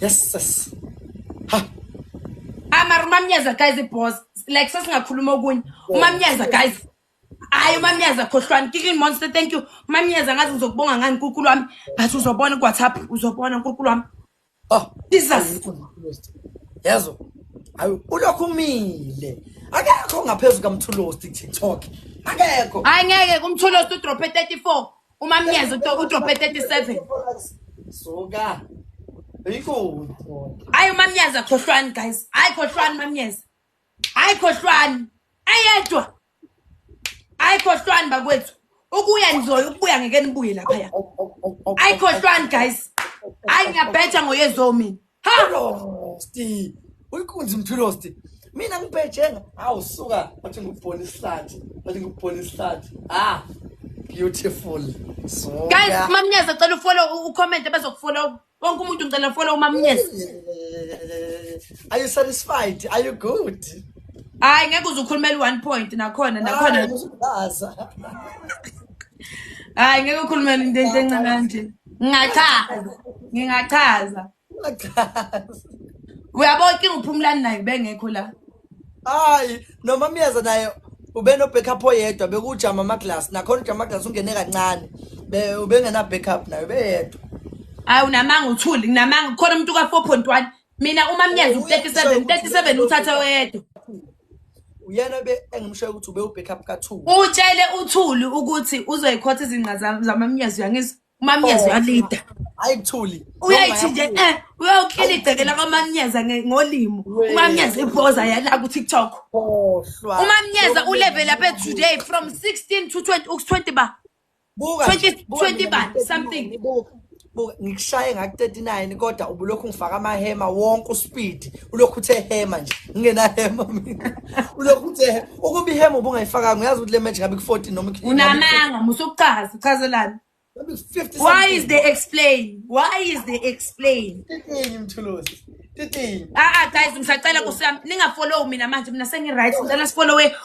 yes sis ha amara umamnyaza guys iboss like sesingakhuluma okunye umamnyaza guys hayi umamnyaza khohlwani kicking monster thank you umamnyaza ngathi ngizokubonga ngani nkulunkulu wami but uzobona kuwhatsapp uzobona nkulunkulu wami oh jesus yazo hayi ulokhu umile akekho ngaphezu kamthulosti tiktok akekho hayi ngeke kumthulosti udrophe 34 umamnyezi udobhe 37 suka yikho hayi umamnyezi akhohlwani guys hayi khohlwani mamnyezi hayi khohlwani ayedwa hayi khohlwani bakwethu ukuya nizoya ukubuya ngeke nibuye laphaya hayi khohlwani guys hayi ngiyabhetha ngoyezo mina Hello, Steve. Uyikunzi mthwilo Steve. Mina ngibhejenga. Hawu suka, wathi ngubona isihlathi. Wathi ngubona isihlathi. Ah. Beautiful. So. Guys, mamnyeza cela ufollow ucomment bazokufollow. Wonke umuntu ngicela follow mamnyeza. Are you satisfied? Are you good? Hayi ngeke uze ukhulumele one point nakhona nakhona. Hayi ngeke ukhulumele into encane kanje. ngingachaza ngingachaza uyabo inkinga uphumulani naye ubengekho la hayi noma myeza naye ubenobackup oyedwa bekujama amaglass nakhona ujama amaglass ungene kancane ubengenabackup naye ubeyedwa hayi unamanga uthuli nginamanga khona umuntu ka-four point one mina uma mnyenza u-37 37 uthathe oyedwa uyena be engimshoyo ukuthi ube ubackup ka-two utshele uthuli ukuthi uzoyikhotha izinqa zam- zamamnyezo uyangizwa umamnyezo uyalida hhayi kuthuli uyayithi nje eh uyokhila igceke lakamamnyeza nge- ngolimo Wee. umamnyeza ibhoza yala kutiktok khohlwa umamnyeza ulevel ape today from 16 to 20 uku-20 ba buka 20 20 bani something buka ngikushaye ngaku-39 kodwa ubulokhu ngifaka amahema wonke uspeed ulokhu uthe hema nje ngingenahema mina ulokhu uthe ukuba ihema ubungayifakanga uyazi ukuthi le match ngabe ku-14 noma unamanga musukuchaza uchazelani why is they explain why is they explain titini mthuluzi titini ah, ah guys ngisacela kusami ningafollow mina manje mina sengi-right ngicela sifollowe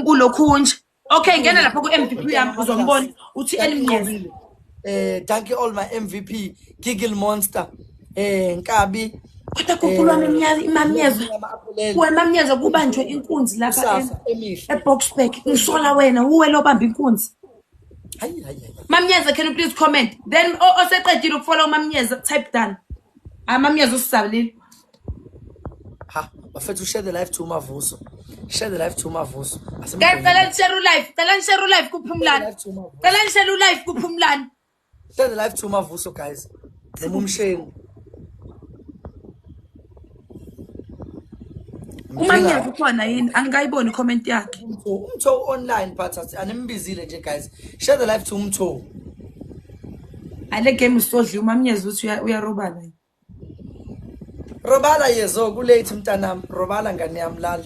ulokhunje Okay ngena lapha ku MVP yami uzombona uthi elimnqobile. Eh thank you all my MVP Giggle Monster eh Nkabi kodwa kukhulu wami imnyaka imamnyezo kuwe mamnyezo kubanjwe inkunzi lapha eboxburg ngisola wena uwe lobamba inkunzi mamnyeza can you please comment then oseqedile ukufola umamnyeza type done amamnyeza usisabilile ha bafethu share the life to umavuso share the life to umavuso Ase- Guys, cela nishare ulive cela nishare ulive kuphumlani Live to uMavuso. cela nishare ulive kuphumlani share the life to umavuso guys noma umsheni umanyazi ukhona yini angikayiboni icomment yakhe umtho online but asi- animbizile nje guys share the life to umtho ale game usodliwa umamnyezi uthi uya- uyarobana Robala yezo kulate mntanami robala ngane yami lala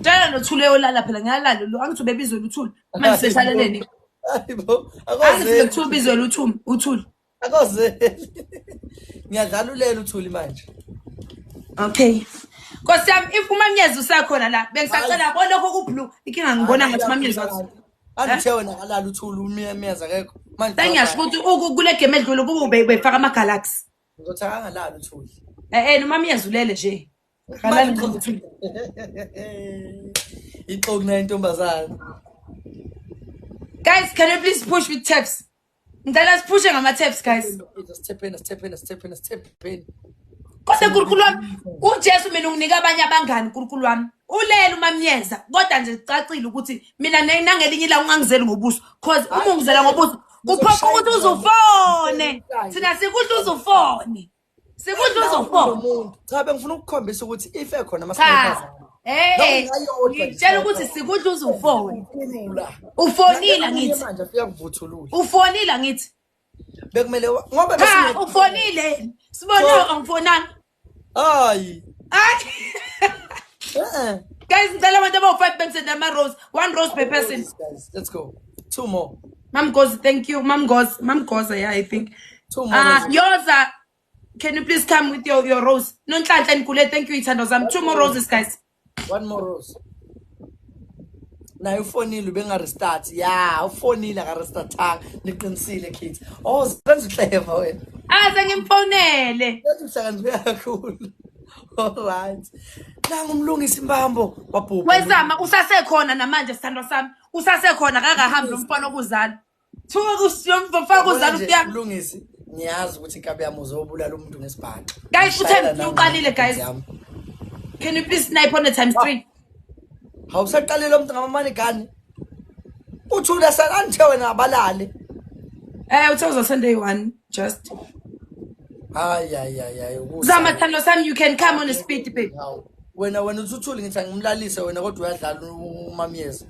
Tshela nothule olala phela ngiyalala lo angithi ubebizwe luthuli manje seshalaleni Hayibo angithi akoze bekuthiwa ubizwe luthuli uthuli akoze ngiyadlala ulela uthuli manje Okay. Nkosi yami if umamnyezo usakhona la bengisacela bonokho kublue ikinga ngibona ngathi umamnyezo akho. angithe wena kalala uthula umyemeza akekho manje sengiyasho ukuthi uku- kule game edlule kube ube- ubefaka amagalaxy ngizothi akangalala uthuli e-e noma myezulele nje Kalala nje. ixoku nayo intombazane guys can you please push with taps Ngicela siphushe ngama taps guys. Sithepeni sithepeni sithepeni sithepeni. Kodwa nkulunkulu wami uJesu mina unginika abanye abangani nkulunkulu wami. Ulele umamnyeza kodwa nje kucacile ukuthi mina nangelinye ilanga ungangizeli ngobuso cause uma ungizela ngobuso kuphoqa ukuthi uzufone. Thina sikudla uzufone. Sikudla uzofoka. Cha bengifuna ukukhombisa ukuthi if ekhona amakhaya. Eh, eh ngitshela ukuthi sikudla uzufone. Ufonile ngithi. Manje afika kuvuthulula. Ufonile ngithi. Bekumele ngoba bese ufonile. Sibona angifonanga. Hayi. Hayi. Eh. Guys, ngicela abantu abawu-5 bemsenda ama-rose. One rose per person. Let's go. Two more. Mamgozi, thank you. Mamgozi, Mamgozi, yeah, I think. Two more. Ah, roses. yours are. Can you please come with your, your rose? No, Ntlantla and Kule, thank you, Itando Zam. Two more roses, guys. One more rose. naye ufonile ubengarestart ya ufonile akarestatanga niqinisile kids oh senza uhleva wena Aze ngimfonele. ethi uhlakaniphe kakhulu allright nangu umlungisa imbambo wabhubha Wezama usasekhona namanje sithandwa sami. Usasekhona kakahambi lomfana okuzala. Thuka kusiyomfo faka uzalo kuya. Lungisi ngiyazi ukuthi inkabi yami uzobulala umuntu ngesibhaxo. Guys uthe uqalile guys. Can you please snipe on the times 3? Hawusaqalile umuntu ngamamani gani. Uthula sananithe wena abalale. Eh uthe uzosende 1. just hayi hayi hayi hayi ukusa- zama thando sami you can come on a speed babe Hawu. wena wena uthuthuli ngithi angimlalise wena kodwa uyadlala u- umamyeza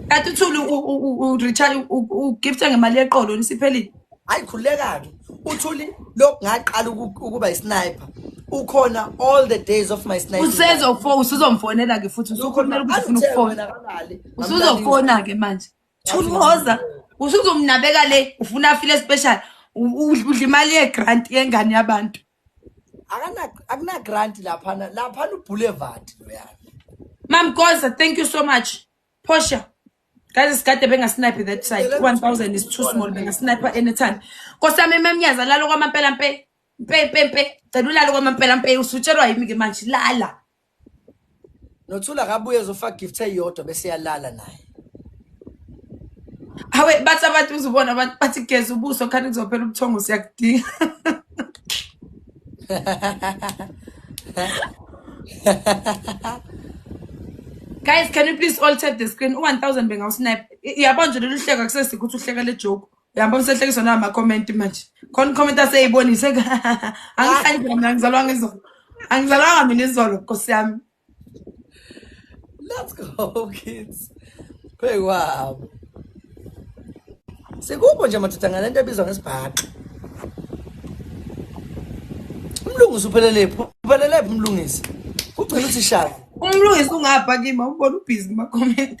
kanti uthuli ureturn ugifte ngemali yeqolo nisiphelile hayi khululeka-ke uthuli lokhu ngaqala uku- ukuba isniper ukhona all the days of my sniper usezofo usuzomfonela-ke futhi usukhulumela ukuthi ufuna ukufona usuzofona-ke manje Thunhoza usuzomnabeka le ufuna afile special udla imali yegrant yengane yabantu. Akana akuna grant lapha lapha lu boulevard loyana. Mam Goza thank you so much. Portia Guys isikade bengasnipe that side 1000 is too small bengasnipe anytime. Kosami memnyaza lalo kwamampela mpe mpe mpe mpe celulalo kwamampela mpe usutshelwa yimi ke manje lala. Nothula akabuye ezofaka gift eyodwa bese yalala naye. Hawe bathi abantu uzubona abantu bathi geza ubuso khani kuzophela ubuthongo siyakudinga. Guys, can you please all tap the screen? U-1000 bengawusnap. Yabona nje lolu hleko akusesikho ukuthi uhleka le joke. Uyamba umsehlekiswa na ma comment manje. Khona comment aseyibonise. Angihlanje mina ngizalwa ngizolo. Angizalwanga mina izolo Nkosi yami. Let's go kids. Hey wow. Sikubo nje madoda ngalento ebizwa ngesibhaqa. Umlungisi uphelelephi? Uphelelephi umlungisi? Ugcina uthi shaka. Umlungisi ungapha kimi ubona ubhizi kuma comment.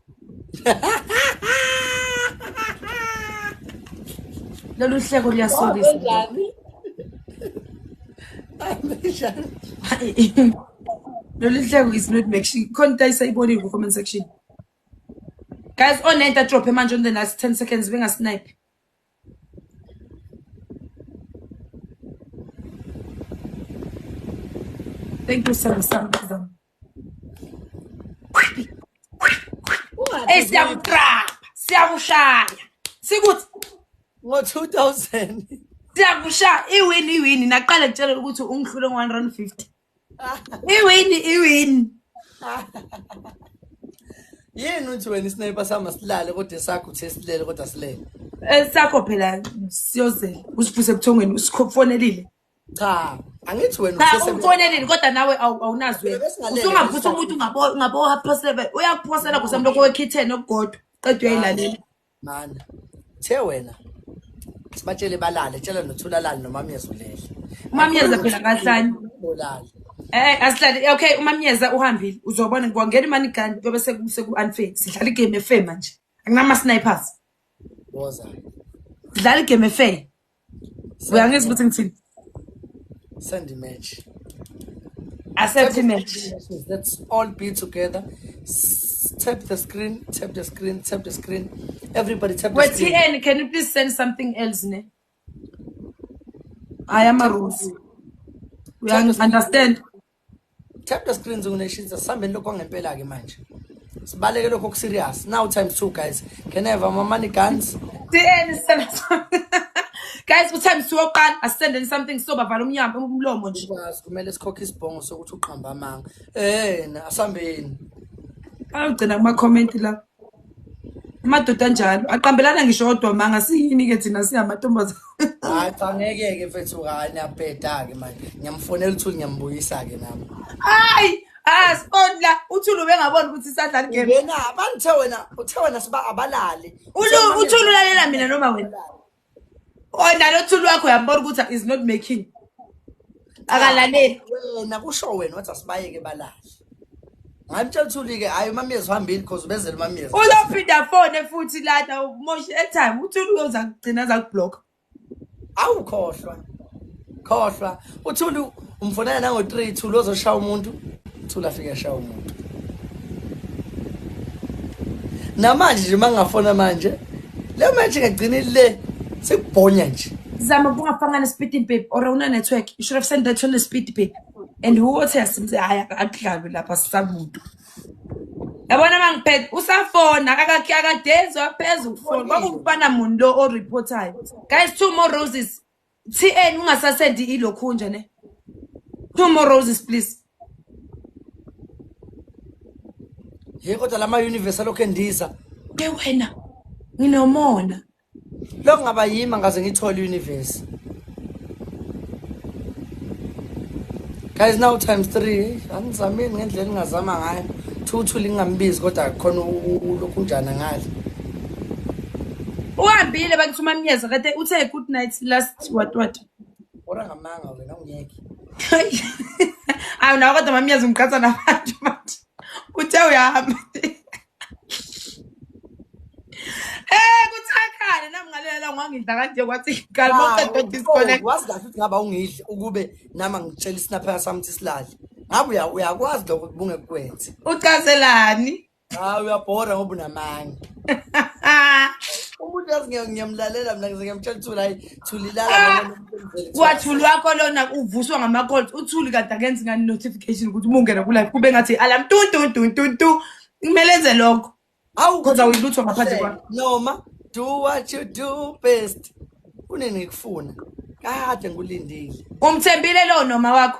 lolu hleko luyasokisa lolu hleko is not making khona into ayisayibonile ku-comment section guys onento adrophe manje on the last 10 seconds bengasnipe thank you sam sam eyi siyakutrapa siyakushaya sikuthi ngo-2000 siyakushaya iwini iwini naqale kutshela ukuthi ungihlule ngo-one rand fifty iwini iwini yini uthi wena isinepa sama silale kodwa esakho uthe silele kodwa silele esakho phela siyozela usifuse ebuthongweni usifonelile cha angithi wena cha umfoneleni kodwa nawe awunazwe usungaphusa umuntu ungabo ungabo half past 7 uyakuphosela kusemntu okwe kitchen okugodwa qedwe uyayilalela mana the wena sibatshele balale tshela nothula lale nomamyeza ulele umamyeza phela kahlanye bolale Eh asihlale okay umamyeza uhambile uzobona ngwangena imani gani kube sekuse ku unfair sidlala igame efe manje anginama snipers boza dlala igame efe uyangizwa ukuthi ngithini send image accept image let's all be together tap the screen tap the screen tap the screen everybody tap the screen wait tn can you please send something else ne i am a rose we understand Tap the screens on nation sambeni lokho ngempela ke manje. Sibaleke lokho serious. Now times 2 guys. Can I have my money guns? DN send us. Guys, what time siwo qala asendeni something so bavala umnyama umlomo nje. Bazi kumele sikhokhe isibhongo sokuthi uqhamba amanga. Eh, asambeni. Awugcina kuma comment la. amadoda anjalo aqambelana ngisho odwa manga siyini-ke thina singamantombazane hayi cha ngeke-ke mfethu hayi niyabheda-ke manje ngiyamfonela uthuli ngiyambuyisa-ke nami hayi asiboni la uthuli ubengaboni ukuthi isadlala igame wena abangithe wena uthe wena siba abalali uthuli ulalela mina noma wena Ona lo thulu wakho uyambona ukuthi is not making. Akalaleli. Wena kusho wena wathi asibayeke balahle. Ngamtshela uthuli ke hayi umamyezi uhambile because ubezela umamyezi. Uzophinda fone futhi lana umoshe airtime uthuli uyoza kugcina zakublock. Awukhohlwa. Khohlwa. uthulu umfonela nango 3 thulu ozoshaya umuntu thula afike ashaya umuntu namanje nje mangafona manje le manje ngagcina le sekubhonya nje zama bungafanga nespeed babe or una network you should have sent that to the speed babe and who was has mse haya akudlabe lapha sisamuntu yabona mangiphethe usafona akakhe akadezwa phezulu ukufona kwakufana muntu lo oreportayo guys two more roses TN ungasasendi ilokhunja ne. No more roses please. Hey kodwa lama universe alokho endiza. Ke wena nginomona. Lo ngaba yima ngaze ngithole universe. Guys now times 3 angizamini ngendlela engazama ngayo. Thuthu lingambizi kodwa khona ulokhunjana ngale. uhambile bakithi umamnyeza kade uthe good night last what what ora ngamanga wena ungeke awu nawo kodwa mamnyeza ungiqatha nabantu manje uthe uyahamba Eh kuthakhane nami ngalelela ngangidla kanje kwathi ngikhala maqeda disconnect. Wazi kahle ukuthi ngaba ungidli ukube nama ngitshela isinaphela sami ukuthi silale. Ngabe uyakwazi lokho kubunge kwenze. Ucazelani? Hayi uyabhora ngoba unamanga. Umuntu yazi ngiya- ngiyamlalela mina ngize ngiyamtshela ukuthi hayi thulilala Ah! ngoba umuntu emzele kuthiwa Wathuli wakho lona uvuswa ngama-calls. Uthuli kade akenzi ngani notification ukuthi uma ungena ku-live kube ngathi alarm tu tu tu tu tu. Kumele enze lokho. Hawu Kodwa kodwa uyilutho ngaphandle uhlelo. kwakho. Noma do what you do best. Kunini ngikufuna? Kade ngikulindile. Umthembile lo noma wakho.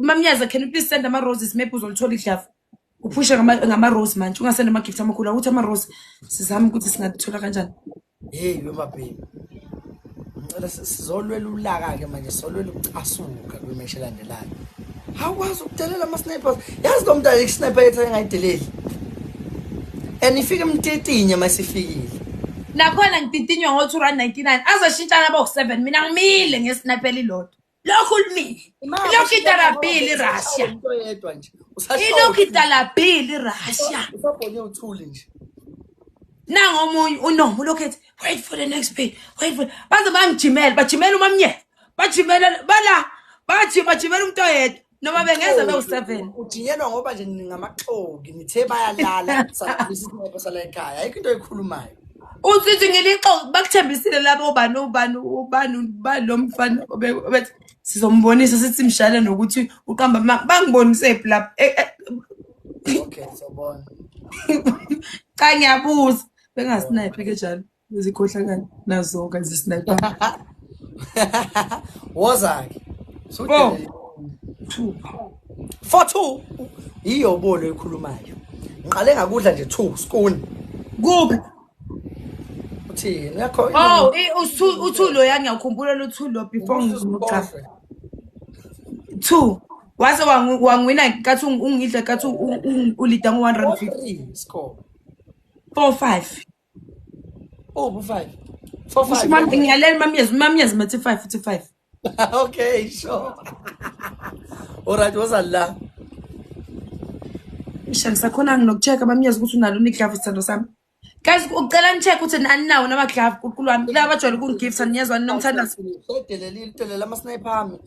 Mamnyaza, can you please send ama roses maybe uzolithola idlavu. Uphushe ngama ngama rose manje ungasenda ama gift amakhulu awuthi ama rose sizama ukuthi singathola kanjani. Hey yo mabhemi. Ngicela si- sizolwela ulaka ke manje solwela ukucasuka kwimeshi elandelayo. Hawukwazi ukudelela ama snipers. Yazi lo mntana i sniper yethu engayideleli. And ifike emtetinye masifikile. Nakhona ngididinyo ngo 299 azoshintshana bo 7 mina ngimile ngesniper lilodwa. lokhu limi ilokhu idarabhile irussia ilokhu idarabhile irussia nangomunye unomo ulokhu ethi wait for the next pay wait for baze bangijimele bajimela umamnyela bajimela bala bathi bajimela umuntu oyedwa noma bengeza bewu-seven udingelwa ngoba nje ningamaxoki nithe bayalala saisihobho sala ekhaya ayikho into eyikhulumayo usithi ngilixoki bakuthembisile labo ubani ubani ubani ubani lo mfana obethi sizombonisa sithi mshale nokuthi uqamba maka bangibonise phi lapho e, e, okay sobona cha ngiyabuza bengasinayiphi ke njalo Izikhohlakali nazoka zisniper. Wozaki. So Four. Two. Four two. Iyo bolo ekhulumayo. Ngiqale ngakudla nje two spoon. Kuphi? Uthini? Yakho. Oh, usu uthulo yani ngiyakhumbula luthulo before ngizomucha. Two. Wase wangwina kathi ungidla kathi ulida ngo 150. Score. 4 5. Oh, bu five. Four five. Mam dinleyelim mam yaz. Mam yaz mati five fifty five. okay, sure. Alright, was Allah. Isha ngisakhona nginokucheka mam yaz ukuthi unalo uniglove sithando sami. Guys, ucela nicheck ukuthi aninawo nama glove kuqulu wami. Laba bajwayele ukungigifta niyezwa ninomthandazo. Sedelelile, delela ama sniper ami.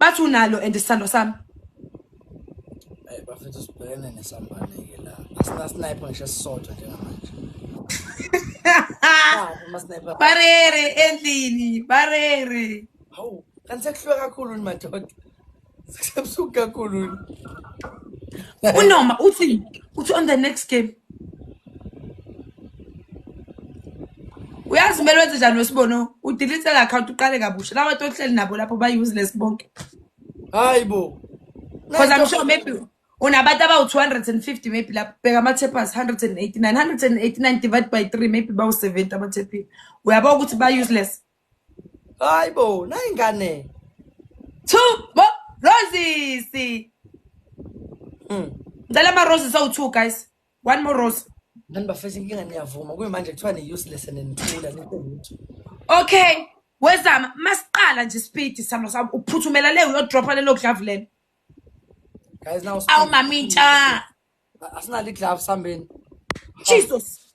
bathi unalo and isithando sami eh, bafethu sibhekene nesambane-ke la asinasnipe ngisho sisodwa njengamanje barere endlini barere hawu kanti sekuhlwe kakhulu ni madoda sekusebusuku kakhulu unoma uthi uthi on the next game uyazi kumele wenze njani wesibono udelete le account uqale kabusha lawa to ohleli nabo lapho ba-useless bonke hayi bo because i'm sure maybe unabantu abawu-250 maybe lapho bheka ama-tapers 189 189 divided by 3 maybe bawu-70 amathepini uyabona ukuthi ba-useless hayi bo nayingane two bo roses mm. ngicela ama-roses awu-two guys one more rose ngani bafethu inkinga niyavuma kuyimanje kuthiwa ni-useless and nithula nithe lutho okay wezama masiqala nje isipidi salo sami uphuthumela le uyodropha lelo glavu lelo guys now awu mamintsha asinalo iglavu sambeni jesus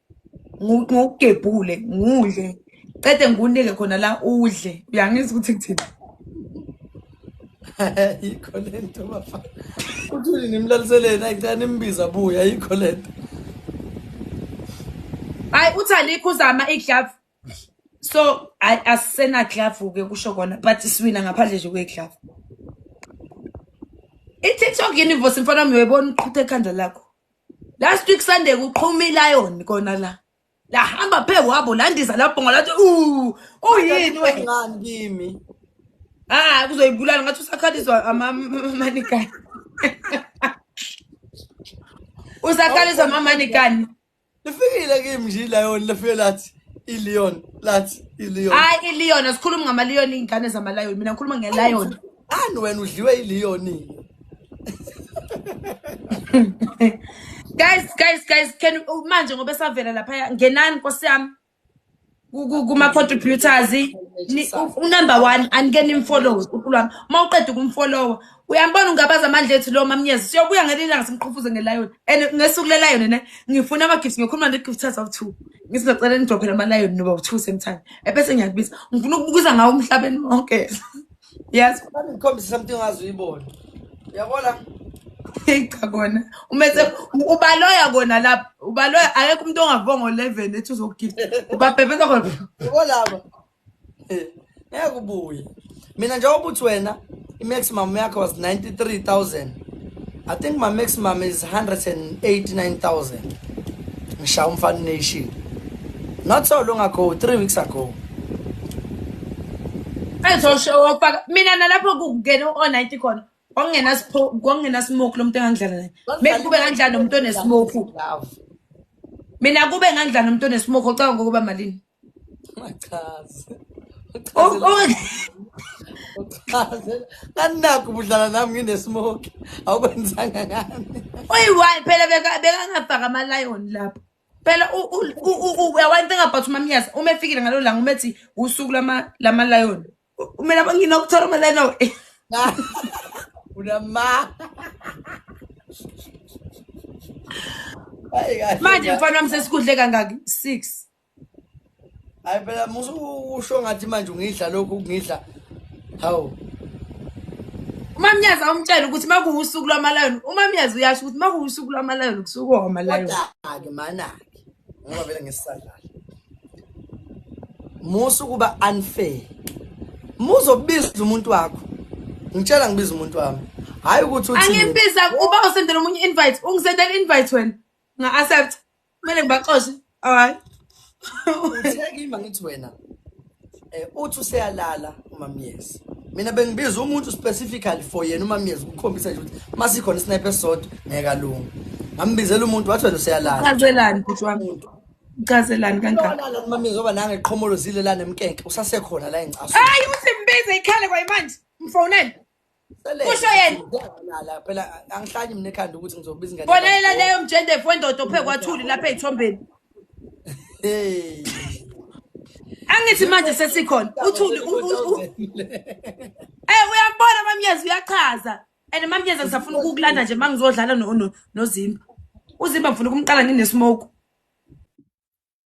ngokugebhule ngudle cede ngikunike khona la udle uyangizwa ukuthi kuthini ayikho le nto bafa uthuli nimlaliseleni ayicela nimbiza buye ayikho le nto hayi uthi alikho uzama iglavu so asisena glove ke kusho kona but siwina ngaphandle nje kwe glove i-tiktok universe mfana wami uyayibona uqhutha ekhanda lakho last week sunday kuqhuma ilayoni kona la lahamba phe wabo landiza labhonga lathi u uyini wengani kimi ah kuzoyibulala ngathi usakhaliswa amamanigani usakhaliswa amamanigani lifikile kimi nje ilayoni lifike lathi ilion lathi ilion hayi ilion asikhulumi ngamalion iy'ngane zamalayoni mina ngikhuluma ngelion ani wena udliwe iliyoni guys guys guys can manje ngoba esavela laphaya ngenani nkosi yami kuma contributors unumber 1 anike nimfollow uqulu wami uma uqeda ukumfollowa uyambona ungabaza amandla ethu lo mamnyezi siyobuya ngelinye ilanga simqhufuze ngelion and ngesuku lelion ne ngifuna ama gifts ngiyokhuluma ne gift of two ngisizocela nidrophele ama lion noba u2 same time ebese ngiyakubiza ngifuna ukubukiza ngawo umhlabeni wonke Yes, mami ngikhombise something ongazi uyibona. Uyabona? Hey cha kona. Umethe ubaloya kona lapha. Ubaloya akekho umuntu ongavongo 11 ethi uzokugift. Ubabhebheza khona. Ubolaba. Eh, ngeke ubuye. Mina njengoba uthi wena i-maximum yakho was 93000 I think my maximum is 189,000. Ngishawu mfana nation. Not so long ago, 3 weeks ago. Ezosho wafaka mina nalapho kungena o90 khona. Kwangena sipho, kwangena smoke lomuntu engangidlala naye. Maybe kube ngangidlala nomuntu onesmoke. Mina kube ngangidlala nomuntu onesmoke ocabanga ukuba malini? Machazi. Oh, oh. Uchaze. Kanakho ubudlala nami nginesmoke. Awukwenzanga ngani. Uyi-one phela beka- bekangafaka ama-lion lapho phela u- u- u- u- u- uyawani thing about umamnyazi uma efikile ngalo langa uma ethi usuku lama- lama-lion U- kumele aba- nginokuthola ama-lion awu, eh. Unama. Hayi kahle. manje mfana wami sesikudle kangaki six hayi phela musu usho ngathi manje ungidla lokhu ungidla hawu umamnyazi awumtshela ukuthi uma kuwusuku lwamalayoni umamnyazi uyasho ukuthi uma kuwusuku lwamalayoni kusuke omalayoni kodwa-ke manake ngoba vele ngesisadlala musa ukuba unfair muzobiza umuntu wakho ngitshela ngibiza umuntu wami hayi ukuthi uthi angibiza uba usendela omunye invite ungisendela invite wena nga accept kumele ngibaxoshe hayi uthekima ngithi wena eh uthi useyalala umamyezi mina bengibiza umuntu specifically for yena umamyezi ukukhombisa nje ukuthi masikhona isnipe esisodwa ngeke alunga ngambizela umuntu wathi wena useyalala chazelani bhuti wami uchazelani kangaka umamyezi oba nange qhomolo zile la nemkenke usasekhona la encaso hayi uthi mbize ikhale kwayimanje mfonele kusho yena nala phela angihlali mina ekhanda ukuthi ngizobiza ingane bonela leyo mjendefu wendoda ophe kwathuli lapha ezithombeni hey angithi manje sesikhona uthuli eh uyabona mamnyezi uyachaza and mamnyezi ngisafuna ukukulanda nje mangizodlala nozimba uzimba ngifuna ukumqala nginesmoke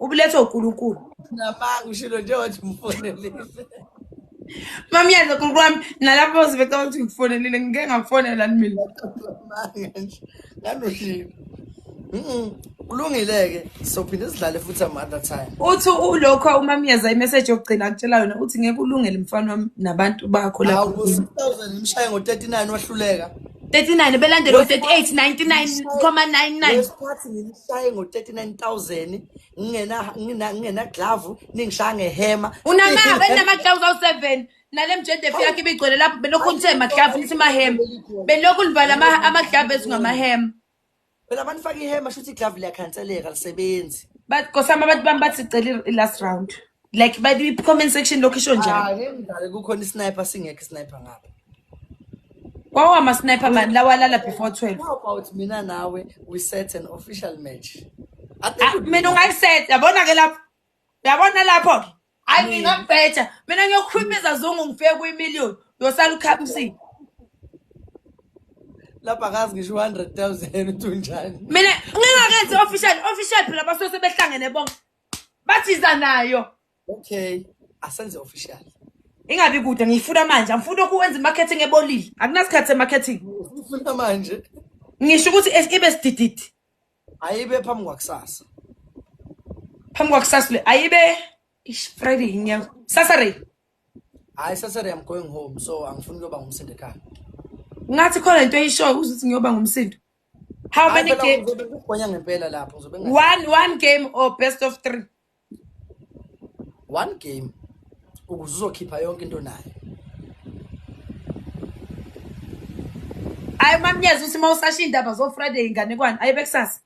ubulethwa uNkulunkulu namanga ushilo nje wathi mfonelise Mami yenza uNkulunkulu wami nalapho uzibeka ukuthi ngifonelile ngike ngafonela mina manga nje nganoshilo Mhm. Kulungile ke sophinde sidlale futhi some other time. uthi ulokho umamiyeza imessage yokugcina akutshela yona uthi ngeke ulungele mfana wami nabantu bakho Hawu lapho ngo 6000 imshaye ngo 39 wahluleka. 39 belandela u 38 99 comma 99 Wesikhathi shaye ngo 39000 ngingena ngina ngina glove ningishaya ngehema unama enama glove awu 7 nale mjede fi yakhe ibigcwele lapho belokhu nithe ma glove nithi ma hem belokhu livala ama ama glove ezingama hem phela abantu faka ihema shuthi glove liyakhanseleka lisebenzi but kosama abantu bami bathi cela i last round like by the comment section lokho isho njalo ah ke ngidale kukhona isniper singekho isniper ngapha kwawa ama sniper man lawalala before 12 how about mina nawe we set an official match ah, mina ungayiset yabona ke lapho yabona lapho ke ayi mina ngibheja mina ngiyokhulumisa zungu ngifike kwi million yosala ukhamsini lapha kazi ngisho 100000 uthi unjani mina ngingakenzi official official phela basuke sebehlangene bonke bathiza nayo okay asenze official ingabi kude ngiyifuna manje angifuni ukuwenza imarketing ebolile akunasikhathi semarketing ngifuna manje ngisho ukuthi ibe sidididi ayibe phambi kwakusasa phambi kwakusasa le ayibe friday inyanga saturday hayi saturday i'm going home so angifuni ukuyoba ngumsindo ekhaya ngathi khona into eyishoyo ukuthi ngiyoba ngumsindo How many Hayi, phela games? uzobe kugonya ngempela lapho uzobe engathi- One one game or best of three. one game ukuze uzokhipha yonke into nayo Hayi mamnyeza uthi mawusasha indaba zo Friday inganekwane. Hayi bekusasa.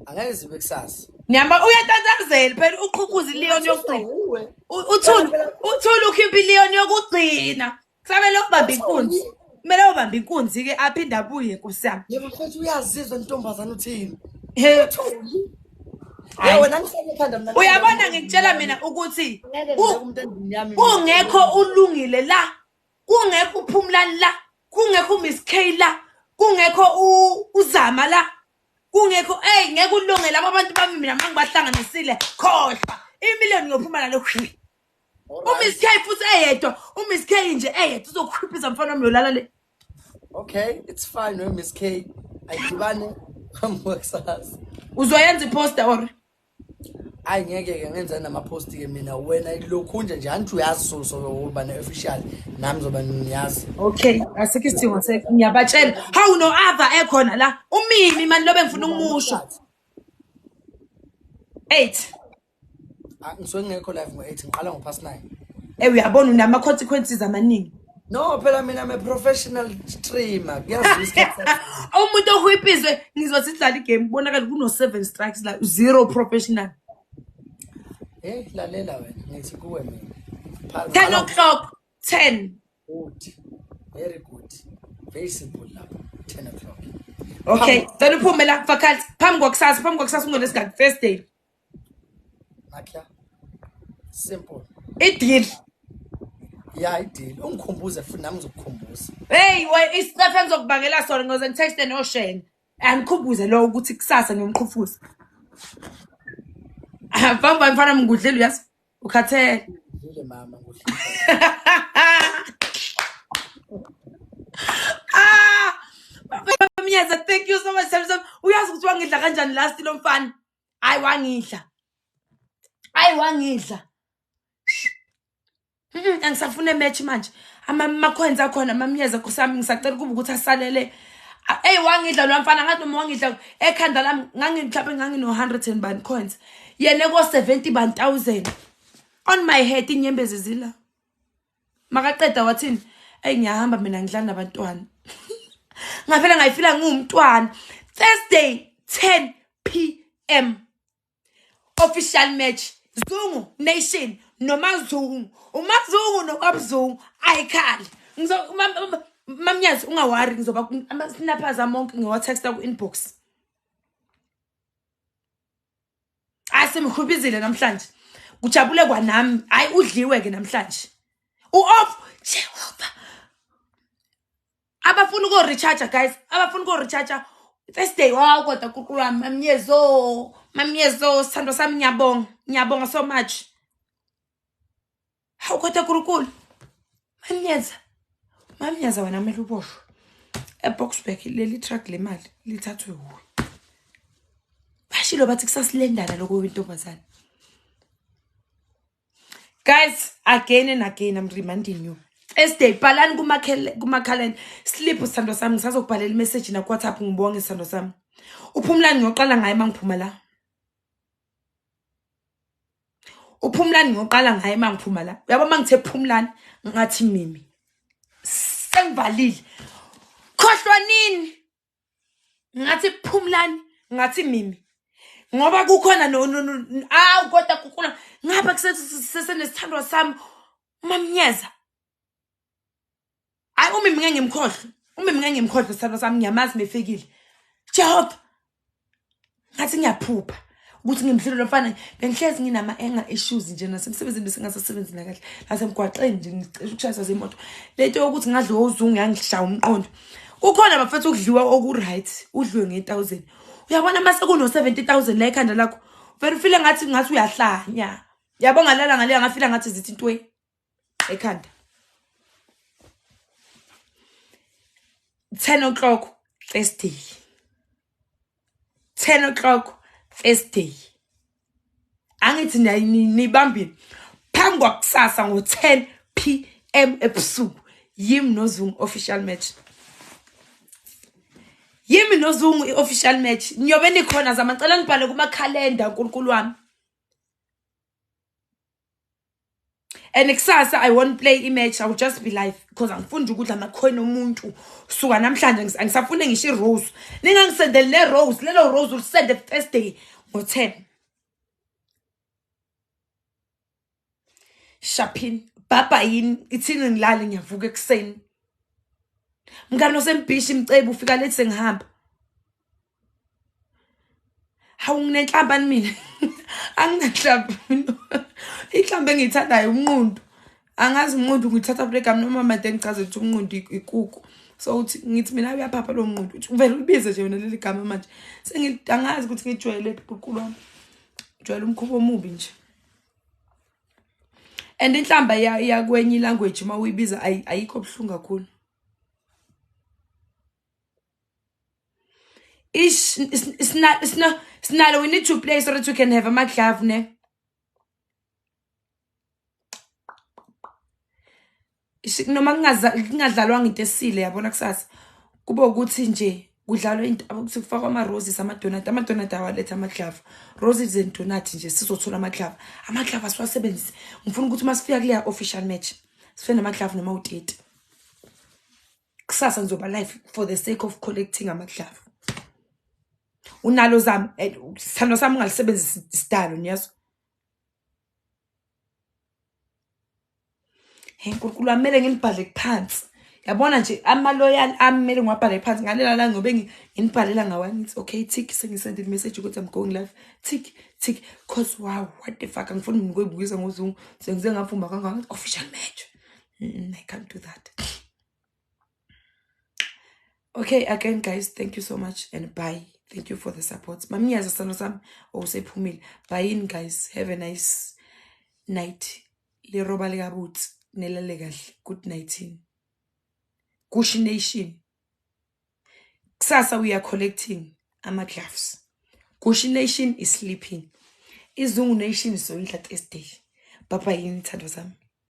angeke zibe kusasa Niyamba uyatatazela phela uqhukuza ileon yokugcina. Uwe. U- Uthuli uthuli ukhipha ileon yokugcina. Kusamele ubambe inkunzi. Kumele ubambe inkunzi ke aphinde abuye nkosi yami. Yebo mfethu uyazizwa intombazana uthini? Hey. Hayi wena ngihlale ekhanda mina. Uyabona ngikutshela mina ukuthi kungekho ulungile la. Kungekho uphumulani la. Kungekho uMiss K la. Kungekho uzama la. Kungekho hey ngeke ulunge laba bantu bami mina mangibahlanganisile khohlwa. Imillion ngiyophuma nalo. umiss k futhi eyedwa umiss k nje eyedwa uzokukhiphiza mfana wami yolala le okay it's fine we miss k ayidibane amboxas uzoyenza iposter or ayi ngeke ke ngenza namapost ke mina wena lokhu nje nje anti uyazi so so uba ne official nami zoba niyazi okay asikho isidingo se ngiyabatshela how no other ekhona la umimi mani lobe ngifuna ukumusho 8 Ah, ngisuke ngingekho live ngo-eight ngiqala ngo-past nine Eh uyabona unama-consequences amaningi. no phela mina i'm a professional streamer kuyazisa isikhathi sakho. Umuntu ohwipizwe ngizothi sidlala igame kubonakala kuno-seven strikes la zero professional. heyi Eh, lalela wena ngithi kuwe mina Pha- Ten qala o'clock, ten. good very good very simple lapho ten o'clock Okay, cela uphume la faculty phambi kwakusasa, phambi kwakusasa ungolesingaki Thursday. Makla. Simple. Ideal. Yeah, ideal. Ungikhumbuze futhi nami ngizokukhumbuza. Hey, why is stuff engizokubangela sona ngoze ngitexte no Shane. Angikhumbuze lo ukuthi kusasa ngiyomqhufuza. Bamba mfana mngudlela uyazi. Ukhathele. Ngidlile mama ngudlela. Ah! Mnyeza, thank you so much. Uyazi ukuthi wangidla kanjani last lo mfana. ayi wangidla ayi wangidla angisafuna ematch manje amakhwenzi akhona amamnyeza kusami ngisacela ukuba ukuthi asalele eyi wangidla lo mfana ngathi noma wangidla ekhanda lami ngangimhlawumbe ngangino-hundred and bani coins yena ko-seventy bani thousand on my head inyembezi zila makaqeda wathini eyi ngiyahamba mina ngidlala nabantwana ngavele ngayifila ngiwumntwana thursday 10 p m official match zungu nation nomazungu umazungu nokwabuzungu ayikhale mamnyazi ungawari ngizoba ama-snappers amonke ngiwatexta ku-inbox hayi simhubizile namhlanje kujabule kwanami hayi udliwe-ke namhlanje u-off jehova abafuna uko-recharger guys abafuna uko-recharger first day waw kodwa kuqulu wami mamyezo mamyezo sithandwa sami ngiyabonga ngiyabonga so much hawu kodwa kurukulu mamnyaza mamnyaza wena kumele uboshwe eboxburg leli truck le mali lithathwe wuwe bashilo bathi kusasilendana lokho wentombazane guys again and again i'm reminding you esday bhalani kumakhaleni slip sithandwa sami ngisazokubhalela imeseji nakuwhatsapp ngibonge sithandwa sami uphumulani ngiyoqala ngaye uma ngiphuma la uphumlani ngiyoqala ngaye uma ngiphuma la uyabo uma ngithe phumlani ngathi mimi sengivalile khohlwa nini ngathi phumlani ngathi mimi ngoba kukhona awu kodwa kukula ngapha kusenesithandwa sami umamnyeza hayi umi mina ngimkhohlwe umi mina ngimkhohlwe sithando sami ngiyamazi mefikile jehova ngathi ngiyaphupha ukuthi ngimhlelo lo mfana bengihlezi nginama-anger issues nje nasemsebenzini besingasasebenzi nakahle nasemgwaqeni nje ngicisha ukushayisa zemoto le nto yokuthi ngadliwa uzungu yangishaya umqondo kukhona bafethu ukudliwa oku-right udliwe nge-thousand uyabona uma sekuno-seventy thousand la ekhanda lakho vele ufile ngathi ngathi uyahlanya yabo ngalala ngaleya ngafila ngathi zithi intweni ekhanda 10 o'clock Thursday 10 o'clock Thursday angithi nibambile phambi kwakusasa ngo-10 pm ebusuku yimi nozungu official match yimi nozungu i-official match niyobe nikhona zamacela nibhale kumakhalenda nkulunkulu wami and kusasa i won't play imatch i will just be live because angifundi ukudla amakhona omuntu suka namhlanje angisafune ngisho irose ningangisendeli nerose lelo rose ulisende thursday ngo-10 shapin bhabha yini ithini ngilale ngiyavuka ekuseni mngane osembhishi mcebi ufika lethi sengihamba hawu nginenhlamba ni mina anginanhlamba inhlamba engiyithandayo umnqundu angazi umnqundu ngithatha kule gama noma made ngichaze ukuthi umnqundu ikuku so uthi ngithi mina uyaphapha lo mnqundu uthi uvele ulibize nje yona leli gama manje sengiangazi ukuthi ngijwayele bhuqu lwami ngijwayele umkhuba omubi nje and inhlamba yakwenye ilanguage uma uyibiza ayikho buhlungu kakhulu Ish, it's, it's not, it's not, it's not, we need to play so that we can have a maglove, ne? Ish, noma kungadlalwanga into esile yabona kusasa kube ukuthi nje kudlalwa into ukuthi kufakwa ama-roses amadonati amadonati awaletha amaglava roses and donati nje sizothola amaglava amaglava siwasebenzise ngifuna ukuthi uma sifika kuleya official match sife namaglava noma uteti kusasa ngizoba life for the sake of collecting amadlava unalo zami eh, sithando sami ungalisebenzisa isidalo niyazo hey nkulunkulu amele ngilibhale phansi yabona nje amaloyal ami kumele ngiwabhale phansi ngalela la ngobe nginibhalela ngawa ngithi okay tick sengisendile imessage ukuthi i'm going live tick tick cause wow what the fuck angifuni nginikuyibukisa ngozungu sengize ngafumba kangaka official match mm, i can't do that okay again guys thank you so much and bye thank you for the support bamnyazi sithando sami owusephumile oh, buyini guys have a nice night liroba likabutsi nelale kahle good nightin kushi nation kusasa we are collecting ama-gloves kushi nation is sleeping izungu nation soyindla thursday baba yini thando zami